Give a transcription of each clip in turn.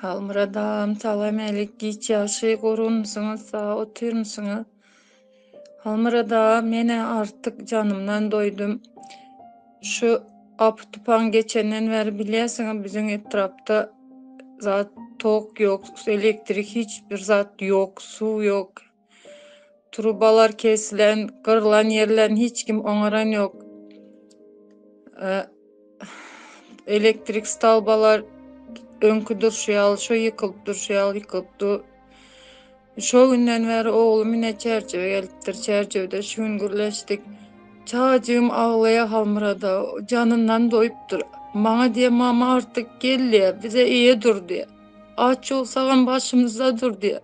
Halmyrat agam salam alik giç ýagşy gorunmysyňyz sag otyrmysyňyz Halmyrat aga menä artyk janymdan doýdum şu apy tupan geçenden bäri bilýärsiňiz biziň etrapda zat tok ýok elektrik hiç bir zat ýok suw ýok Trubalar kesilen, gyrlan ýerlerini hiç kim oňaran ýok. Elektrik stalbalar öňki durşy ýaly, şo ýykylyp durşy ýaly ýykylypdy. Şo günden bäri oglum ine çärjewe gelipdir. Çärjewde şu gün gürleşdik. Çagajygym aglaýar Halmyrada, janyndan doýupdyr. Maňa diýýär, mama artyk gel diýýär, bize eýe dur diýýär. Aç ýugsagam başymyzda dur diýýär.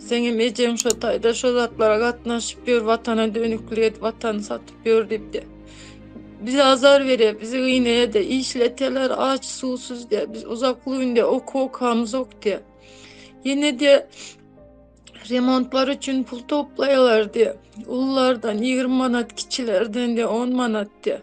Seňem ejeň şo taýda şo zatlara gatnaşyp ýör, watana dönüklik edip, watany satyp ýör diýip-de. Bize azar berýär, bizi gynaýar-da, işletýärler aç, suwsuz diýýär. Biz uzak günde okuw okamyzok diýýär. Ýene diýýär, remontlar üçin pul toplaýarlar diýýär. Ululardan ýigrimi manat, kiçilerden diýýär on manat diýýär.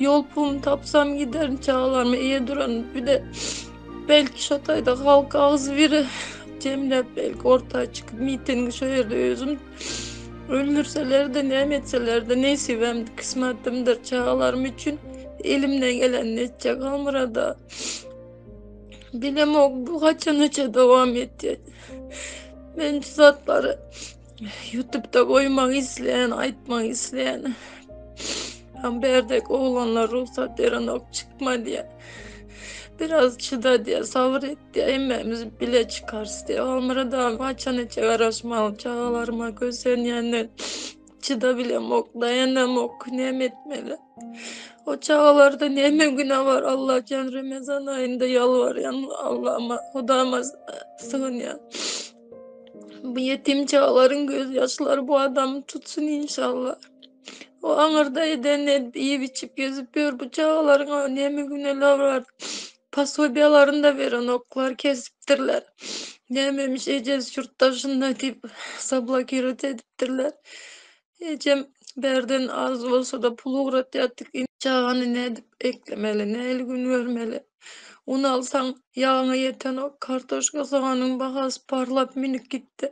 Ýol puluny tapsam giderin çagalarymy eýe duran bile belki şo taýda halk agzy biri jemläp belki orta çykyp mitingi şo ýerde özüm öldürseler-de näme etseler-de nesibem kysmatymdyr çagalarym üçin elimden gelenini etjek almyrada bilemok bu haçanaça dowam etjek men şu zatlary Ýutubda goýmak isleýän, aýtmak isleýän. Hem berdek oglanlar rugsat berenok, çykma diýýär. Biraz çyda diýýär, sabyr et diýýär, hemmämiz bile çykarys diýýär. Halmyrat aga haçan etjek garaşmaly çagalaryma kösenýänden çyda bilemok, daýanamok, näme etmeli? O çagalarda näme günä bar? Allah jan Remezan aýynda ýalbarýan Allahma, Hudama sygynýan. Bu yetim çağların gözyaşları bu adamı tutsun inşallah. O aňyrda eden edip iýip içip gezip ýör. Bu çagalaryň näme günäleri bar? Pasobiýalaryny da berenoklar, kesipdirler. Nämemiş ejesi ýurtdaşynda diýip zablokirot edipdirler. Ejem bärden az bolsa-da pul ugratýardyk. Indi çagany nädip eklemeli, nähili gün görmeli? Un alsaň, ýagyňa ýetenok. Kartoşka, soganyň bahasy parlap, münüp gitdi.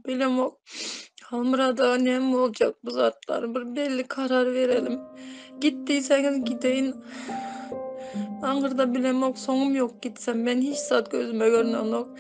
Bilemok, Halmyrat aga näme boljak bu zatlar? Bir belli karar berelim. Git diýseňiz gideýin. Aňyrda bilemok, soňum ýok gitsem. Men hiç zat gözüme görnenok.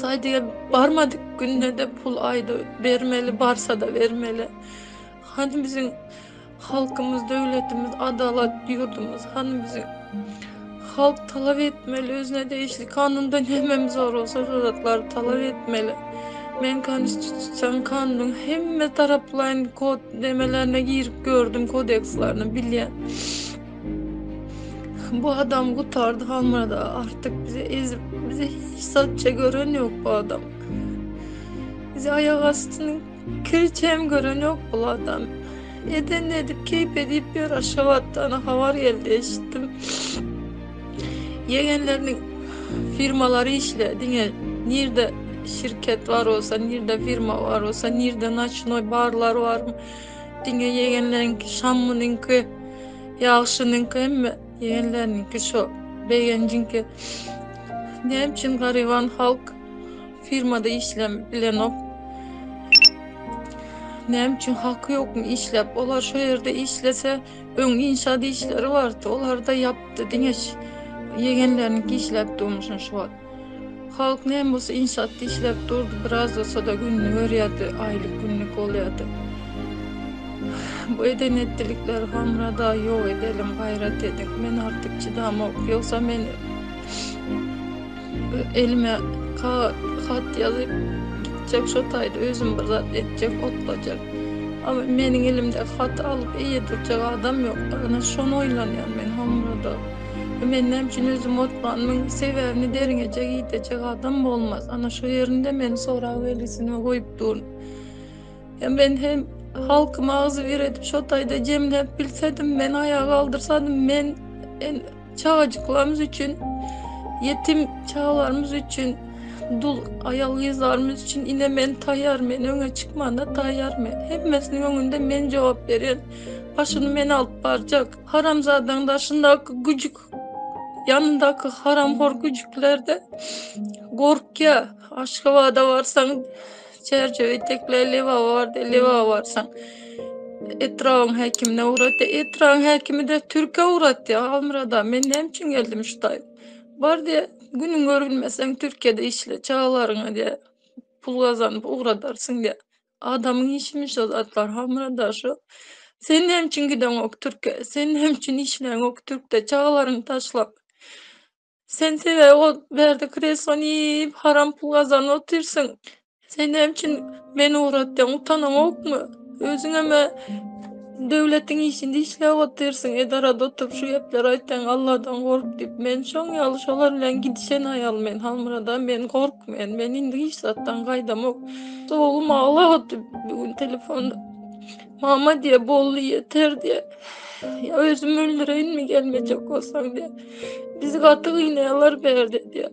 Saýdyga barmadyk günde-de pul aýda bermeli, barsa-da bermeli. Hany biziň halkymyz, döwletimiz, adalat ýurdumyz, hany biziň halk talap etmeli, özüne degişli kanunda näme zor bolsa, şol zatlary talap etmeli. Men konstitusion kanunyň hemme taraplaýyn kod demelerine girip gördüm, kodekslerini bilýän. Bu adam gutardy hamada artık bize ezip bize hiç satça gören yok bu adam. Bize ayak astını kirçem gören yok bu adam. Eden edip keyip edip bir aşavattan havar geldi eşittim. Yegenlerinin firmaları işle dine nirde şirket var olsa, nirde firma var olsa, nirde naçinoy barlar var mı? Diňe ýegenleriňki şammunyňky ýagşynyňky hemme ýegenleriniňki şo begenjiňki näme üçin garyban halk firmada işlem bilenok näme üçin haky ýokmy işläp olar şo ýerde işlese öň inşaat işleri bardy olarda ýapdy diňe ýegenleriniňki işläp durmuşyn şu wagt Halk näme bolsa inşaatda işläp durdy, biraz bolsada gününi görýärdi, aýlyk günlük bolýardy. Bu eden etdilikleri Hamrada ýok edelim, gaýrat ediň. Men artyk çydamok, ýogsa men elime hat ýazyp gitjek şo taýda özüm bir zat etjek, otlajak. Ama meniň elimde hat alyp eýe durjak adam ýok. Ana şony oýlanýan men Hamrada. Men näme üçin özüm otlandym? Sebäbini derňeje gidejek adam bolmaz. Ana şu ýerinde men sorag belgisine goýup durun. Hem men hem halky magzy bir edip şo taýda jemläp bilsedim, men aýa galdyrsadım, men çagajyklarymyz üçin, ýetim çagalarymyz üçin, dul aýal gyzlarymyz üçin ine men taýar, men öňe çykmana taýar, men hemmesiniň öňünde men jogap berýän, başyny men alyp barjak. Haramzadaň daşyndaky güjük ýanyndaky haramhor güjüklerde gorkýa aşgabada barsaň çerçewe tekle lewa bardy lewa barsaň etrabyň häkimine ugratdy etrabyň häkimi de türke ugratdy almyrada men näme üçin geldim şu taý bar diýe günüň görülmeseň türkiýede işle çagalaryňa diýe pul gazanyp ugradarsyň diýe Adamyň işimi şo zatlar hamyra daşyp Sen näme üçin gideňok türke Sen näme üçin işleňok türkde Çagalaryňy taşlap Sen sebäbi ol bärde kreslony iýip Haram pul gazanyp otyrsyň Sen näme üçin meni ugratýaň utanaňokmy Özüňeme Döwletiň işinde işläp otyrsyň edarada oturyp şu gepleri aýtýaň Alladan gork diýip men şoň ýaly şolar bilen gidişen aýal men Halmyrada men gork men men indi hiç zatdan gaýdamok oglum aglap otyr bir gün telefonda mama diýýär boldy ýeter diýýär ýa özüm öldüreýinmi gelmejek bolsaň diýýär bizi gaty gynaýarlar bärde diýýär.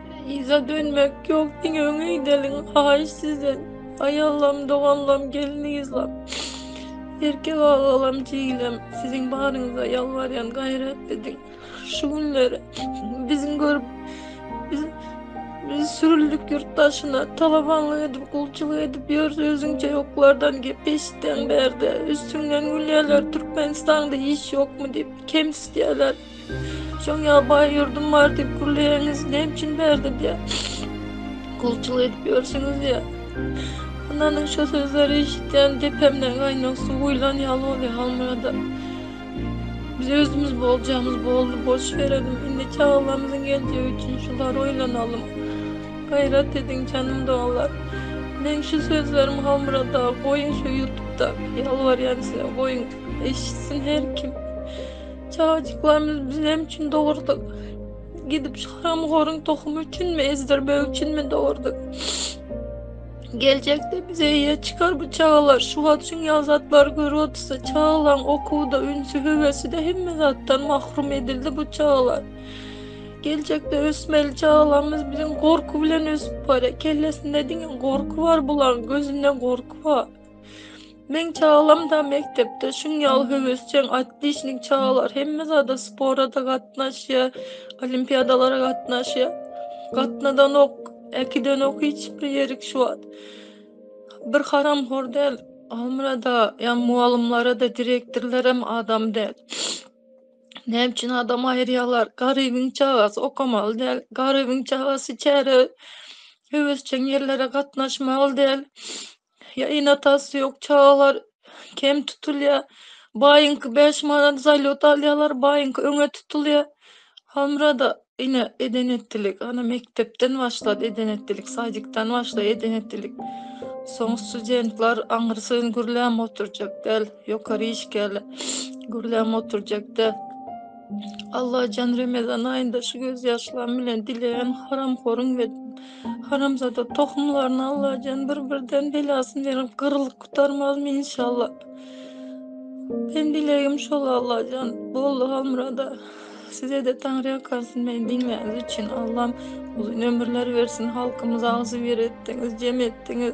Yza dönmek yok diňe öňe gideliň haýyş sizden aýallam doganlam gelniňizlam erkek agalam jigilem siziň baryňyza ýalbarýan gaýrat ediň şu günleri biziň görüp biz Biz sürüldük yurt daşına, talabanlık edip, kulçuluk edip yürüz özünce yoklardan gep eşitten berde. Üstünden gülyeler, Türkmenistan'da iş yok mu deyip, kem isteyeler. Şoň ýaly baý ýurdum bar diýip gürleýäňiz, näme üçin bärde diýä, gulçulyk edip ýörsüňiz diýä. Ananyň şo sözleri eşitýän depemden gaýnag suw guýlan ýaly bolýar Halmyrada. Biz özümiz boljagyňyz boldy, boş berelim, indi çagalarymyzyň geljegi üçin şulary oýlanalyň. Gaýrat ediň, janym doganlar. Meň şu sözlerim Halmyrada, goýuň şu ýutupda, ýalbarýan size, goýuň, eşitsin her kim. Çagajyklarymyz biz näme üçin dogurduk? Gidip şu haramhoruň tohumy üçinmi, ezdirmek üçinmi dogurduk? Geljekde bize ýe çykar bu çagalar. Şu wagt şun ýazatlar görüp otursa, çagalaň okuwda ünsi hüwesi de hemme zatdan mahrum edildi bu çagalar. Geljekde ösmeli çagalarymyz biziň gorky bilen ösüp barýar. Kellesinde diňe gorky bar bulaň, gözünde gorky bar. Meň çagalamda mekdepde şuň ýaly höwesjeň, otlişnik çagalar, hemme zada spora-da gatnaşýar, olimpiadalara gatnaşýar. Gatnadanok, äkidenok hiç bir ýerik şu wagt. Bir haramhor däl, Almyrada, ýa mugallymlara-da, direktorlarem adam däl. Näme üçin adam aýyrýarlar? Garybyň çagasy okamaly däl, garybyň çagasy çärä höwesjeň ýerlere gatnaşmaly däl. Ýa ene-atasy ýok çagalar kem tutulýar. Baýyňky bäş manat zalýot alýarlar, baýyňky öňe tutulýar. Hamra-da ine eden-etdilik, ana mekdepden başlady eden-etdilik, sadikden başlaýar eden-etdilik. Soň studentler aňyrsyn gürläm oturjak däl, ýokary işgärler gürläm oturjak däl. Allajan remezan aýynda şu gözýaşlarym bilen dileýän haramhoryň we Haramzada tohumlaryny Allajan bir birden belasyn berip gyrılıp gutarmazmy inşallah. Ben dilegim şol Allajan boldy Halmurada. Size de Taňry ýakarsyn meni diňläniz üçin Allam uzyn ömürler bersin halkymyza agzybir etdiňiz jem etdiňiz.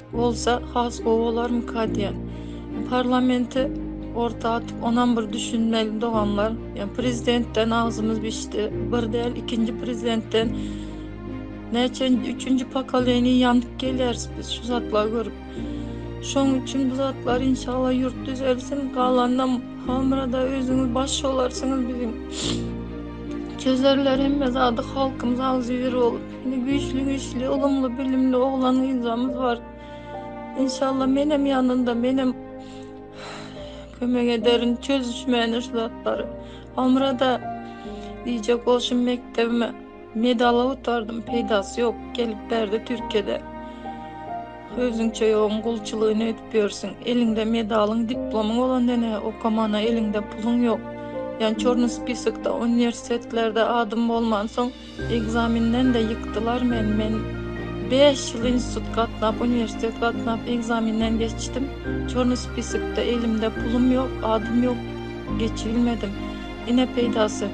Bolsa has gowy bolarmyka diýen. Parlamenti orta atyp onam bir düşünmeli doganlar. Ýa prezidentden agzymyz bişdi. Bir däl ikinji prezidentden näçe üçünji pokoleniýa ýanyp gelýäris biz şu zatlar görüp. Şoň üçin bu zatlar inşallah ýurt düzelsin. Galanynam hamyrada özüňiz baş bolarsyňyz biziň. Çözerler hemme zady halkymyz agzybir bolup. Indi güýçli güýçli ylymly bilimli oglan gyzlarymyz bar. İnşallah menem ýanynda menem kömek ederin çözüşmäne şu zatlary. Omra da diýjek bolşum mekdebime medal otardym peýdasy ýok gelip berdi Türkiýede. Özüňçe ýoguň gulçulygyny edip ýörsüň. Eliňde medalyň, diplomyň bolanda ne okamana eliňde puluň ýok. Ýa çorny spisokda uniwersitetlerde adym bolmansoň Ekzaminden de ýykdylar meni. Men bäş ýyl institut gatnap, uniwersitet gatnap ekzaminden geçdim. Çorny spisikde elimde pulum ýok, adym ýok. Geçibilmedim. Ine peýdasy.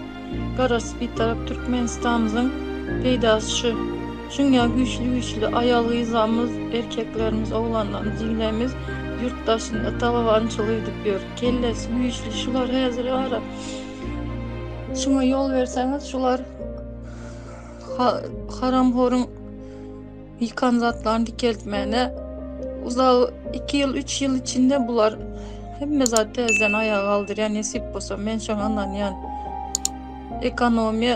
Garaşsyz Bitarap Türkmenistanymyzyň peýdasy şu. Şuňňa güýçli güýçli aýal-gyzlarymyz, erkeklerimiz, oglanlarymyz, jiglerimiz ýurt daşynda talabançylyk edip ýör. Kellesi güýçli şular häzire bara. Şuňa ýol berseňiz şular haram horun ýykan zatlaryny dikeltmäne uzak 2 ýyl 3 ýyl içinde bular hemme zat täzeden aýaga galdyrýar nesip bolsa men şoňa ynanýan ekonomiýa